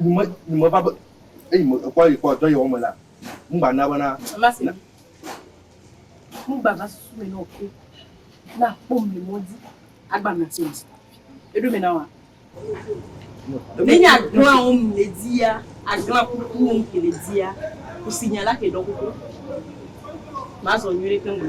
Nyime, nyime va be, eyi me ekpɔ eyi kpɔ dɔ yi wɔme la, ŋgba na bena. Mama se mi. Ŋgba va susu me na oke. Na kpɔ mi mo di. Agba na se mi. Eɖo me na wa. Ne nya glan wo mi le di ya, aglan kuku wo mi ke le di ya, kusi nya la ke dɔ kuku. Ma zɔ nyuie ke ŋgba.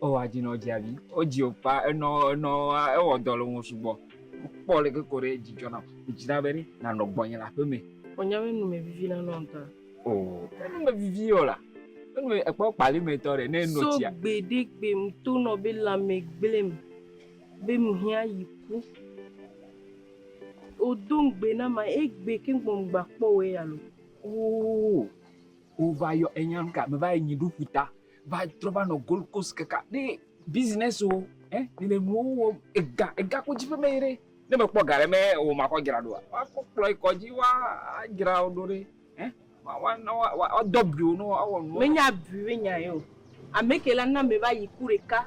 Oh adzi nɔ dzi abi. O dzi o kpa enɔ enɔ ewɔ dɔ le ŋu sugbɔ. Kpɔ leke koɖe edzi dzɔ nam. Medzina be ɖe nanɔ gbɔnye le aƒe me. O nya be nu me vivi na nɔ ŋtɔa. Oh enu me vivi yɔ la. Enu me ekpɔ kpali me tɔ ɖe ne enɔ tsia. So gbe ɖe gbe mto nɔ be lãme gblem be mhiã yi ku. O do ŋgbe na ma egbe keŋ gbɔ mgba kpɔ o eya lo. Oh o va yɔ enya ŋka me va yi nyi ɖu ƒuta. va trɔ va nɔ gold coast kaka ne business o ɛ eh, ne le nuwo wɔ ega ega ko dzi ƒe me yi ɖe ne me kpɔ ga ɖe me o ma kɔ dzra ɖoa wa kɔ kplɔ yi kɔ dzi wa dzra o ɖo ɖe ɛ eh, wa wa wa wa dɔ bi o no wa wɔ nuwo. menya bi menya yi o ameke la na me va yi ku ɖeka.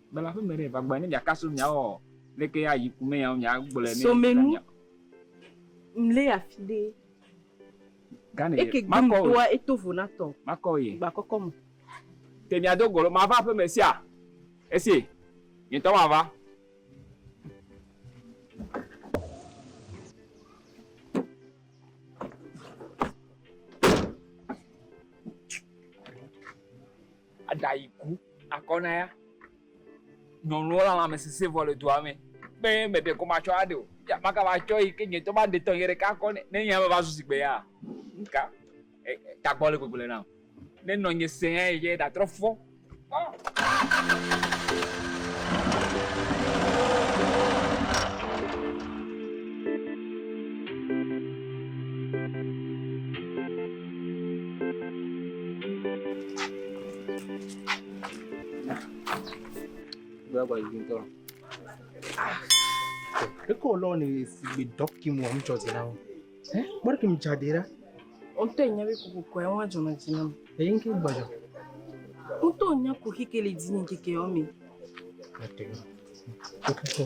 Gbala aƒe me ɖe va gbɔe ne mia ka so mia ɔ leke ya yi ku me ya mia gblɔe ne so me nu mle afi ɖe gane eke gbe mu toa eto vo na tɔ makɔ ye gba kɔkɔ mu te mia do golo ma va aƒe me sia esi nye tɔ ma va Eɖa yi ku akɔ na ya. Nyɔnuwo le lãme sese vɔ le dua me. Be meɖe kɔ matsɔ aɖe o. Ya maka va tsɔ yi ke nye ŋutɔ maɖe tɔ nye ɖeka akɔ nɛ. Ne nyea meva zu zi gbe ya ŋka tagbɔ le gbegble nam. Ne nɔ nye se ya yi ke ɖa trɔ fɔ. Eko lɔ ne sigbe dɔki mu amu tsɔzi na wo. Eh, bɔri kim tsa de ra. O to nya be kuku kwa wa jona jina. E yin ki gbajo. O to nya ku ki ke le dini ki ke o mi. Ate. O ku ko.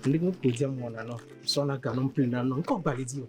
Ndi ko ko jam mo na no. So na ka no mpli na no. Ko gbali di o.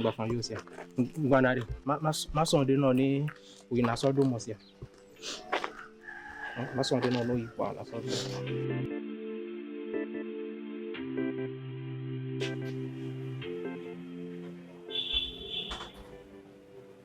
Gbafa yo sia. Gbana ɖe. Masɔ ɖe nɔ ne wòyi nasɔ ɖo mɔ sia. Masɔ ɖe nɔ ne wòyi kpɔ nasɔ ɖo.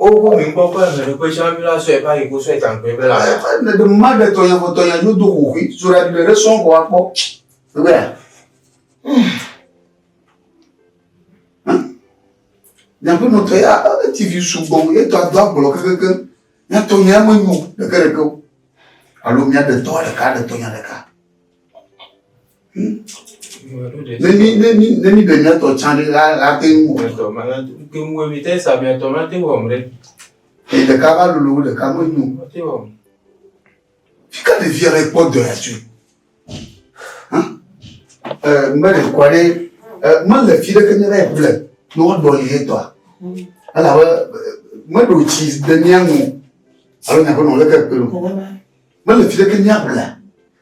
Wobu mi ŋkɔ ƒe emeɖoƒe sia ŋu la sɔe va yi go sɔe taŋkɔe be la. Le ɖe ma ɖe tɔnya vɔ tɔnya yo do ho hui so ɖa ɖe ɖe sɔn kɔ akpɔ. Ebe. Nyaƒe nɔ tɔ ya TV sugbɔ ye tɔ do agblɔ kekeke. Nya tɔnya me nyo ɖeke ɖeke o. Alo mia ɖe tɔ ɖeka ɖe tɔnya ɖeka. Ne mi ne mi ne mi ɖe miatɔ tsã ɖe la la te ŋu wɔ. Miatɔ ma la te ŋu wɔ mi te sa miatɔ ma te wɔm ɖe. Eye ɖeka va lolo wo ɖeka me nyo. Ma te wɔm. Fi ka ɖevi aɖe kpɔ dɔ ya tsoe? Hã? Ɛ mbe ɖe kɔ ɖe ɛ mele fi ɖeke nye ɖe ble ne woɖɔ li ye tɔa. Elabe meɖo tsi de mia ŋu alo nyaƒe nɔ leke kpe o. Mele fi ɖeke mia ble.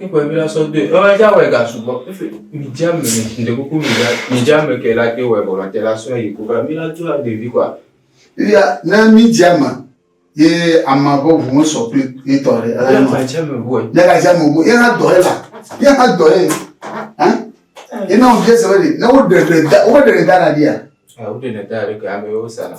Kikwe mi la sɔ doe. Ɔn edza wɔ ega sugbɔ. Efe mi dza me mi de kuku mi dza mi dza me ke la te wɔ ega ma te la sɔ yi ko ba mi la tu la bevi kwa. Iya ne mi dza me ye ama vɔ ʋu me sɔ kple ye tɔ re. Ela ni. Ma dza me ʋu. Ne ka dza me ʋu ye ha dɔ ye la. Ye ha dɔ ye. Hein? Ye na o dze se be ne wo de de da wo de de da la dia. Ah, wo de de da la ke ame yo sa la.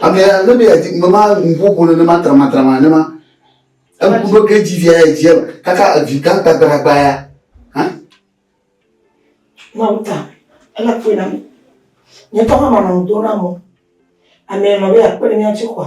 Ame ya ne be yadi me ma ŋuƒoƒo nenema tramatrama nenema. Eŋu ɖo ke dzi via ya dzi eme kaka evi gã gbagbalagba ya. Hã? Mawu ta ele kpɔe na mi. Nye tɔ hã manɔ ŋdo na mo. Ame nɔ be akpe ɖe mía ŋuti kɔa.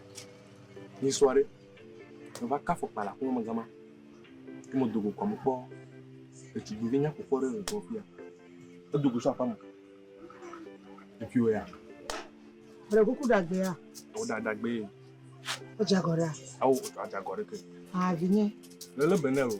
Nyi sɔ ɖe, me va ka fɔkpa le aƒeme me gama, ke me dogo kɔme kpɔ ɖetugbuivi nyakpɔkpɔ ɖe le gbɔ fia. Edogo sɔ aƒeme. Efi wɔ ya. Bre kuku dagbe ya. Awo da dagbe ye. Edze agɔ ɖe. Awo adze agɔ ɖe ke. Ah vinye. Lele benel o.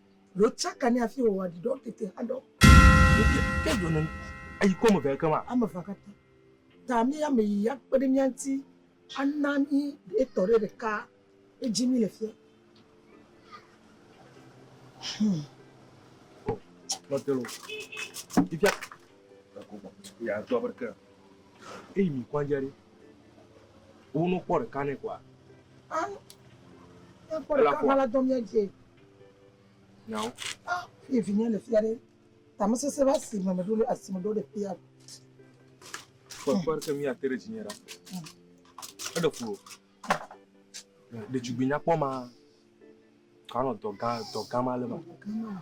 Ɖo tsaka ne afi wòwɔ ɖi ɖɔ tete hã ɖɔ. Ke ɖo ne eyi kɔ me vea ke ma. Ame vea katã. Ta mi ame yi ya kpe ɖe mía ŋuti ana mi etɔ ɖe ɖeka edzi mi le fia. Hmm. Oh, not the road. If ya, ya do abe ke. Eyi mi kwanja ɖe. Wo no kpɔ ɖeka ne kwa. Ah. Ya kpɔ ɖeka hã la dɔ mía dzi. Nyawo. Ah, fie vinye le fia ɖe. Tame sese va si me meɖo ɖe asi me ɖo ɖe fia. Kpɔkpɔ ke mi ate ɖe dzinye ɖa. Eɖe ƒo. Ɖetugbui nyakpɔ ma. Kanɔ dɔgã dɔgã ma le ma. Dɔgã ma.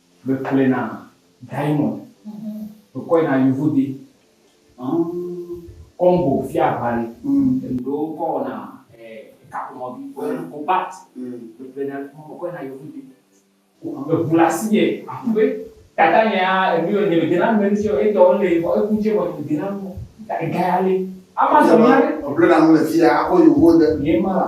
Me kplɛ na Diamond. Me kɔɛ na Yovode. Congo fia ʋali. Ŋɖewo ŋkɔ wɔna kaƒomɔ vi. Ko bat. Me kplɛ na, me kɔɛ na Yovode. Me ʋu le asi nɛ. Aku be tata nye ya enu yɔ nye me dena nume ŋtsi yɔ etɔ le vɔ eku ŋtsi vɔ nye me dena nu o. Ega ya le. Ama zɔmea ɖe. Ble na nu le fiya akɔ Yovode. Ye ma la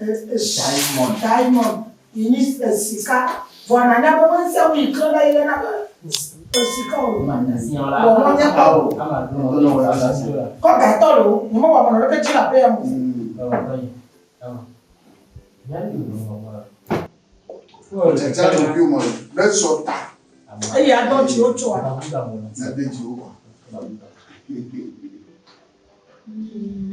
E, Esaimɔn, Saimɔn, yi nyi e, sika, vɔ nanya be ŋusẽ ŋu yi ke la yi le na be e, sika o. Wɔ mɔ nye tɔ o. Kɔ gatɔ lo, nye mɔ wɔ mɔ leke dzi la pe ya mo. Wɔ tsatsa lo bi mɔ ɖe sɔ ta. Eye adɔ dzi wo tsɔ. Na de dzi wo. Mm.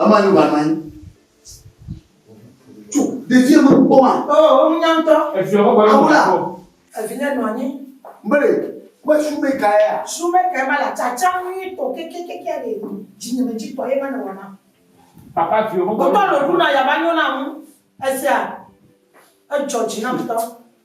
Ema nyo va nɔ anyi. Tso ɖevia me kpɔ ma. Oo, oh, nya ŋutɔ. Eviɔ me gbɔdɔ nɔ anyi. Evinya nɔ anyi. Mbele, kpɔ sumeka ya. Sumeka ma la tsatsa nyui tɔ kekekeke ɖe dzinyemedzi tɔ ye ma nɔ wɔna. Papa viɔ me gbɔdɔ. Wotɔ lɔ ɖu na ya va nyo na ŋu. Esia, edzɔ dzi na ŋutɔ.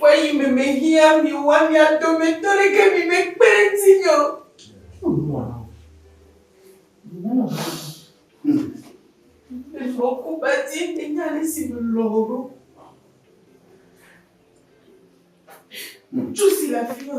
Ƒe yi me mehiã mi woa mia dometɔ ɖeke mi mekpe ɖe ŋutinye o. Menɔ ku ba di enye ale si melɔ̃ wò ɖo. Ŋutsu si le afi ma.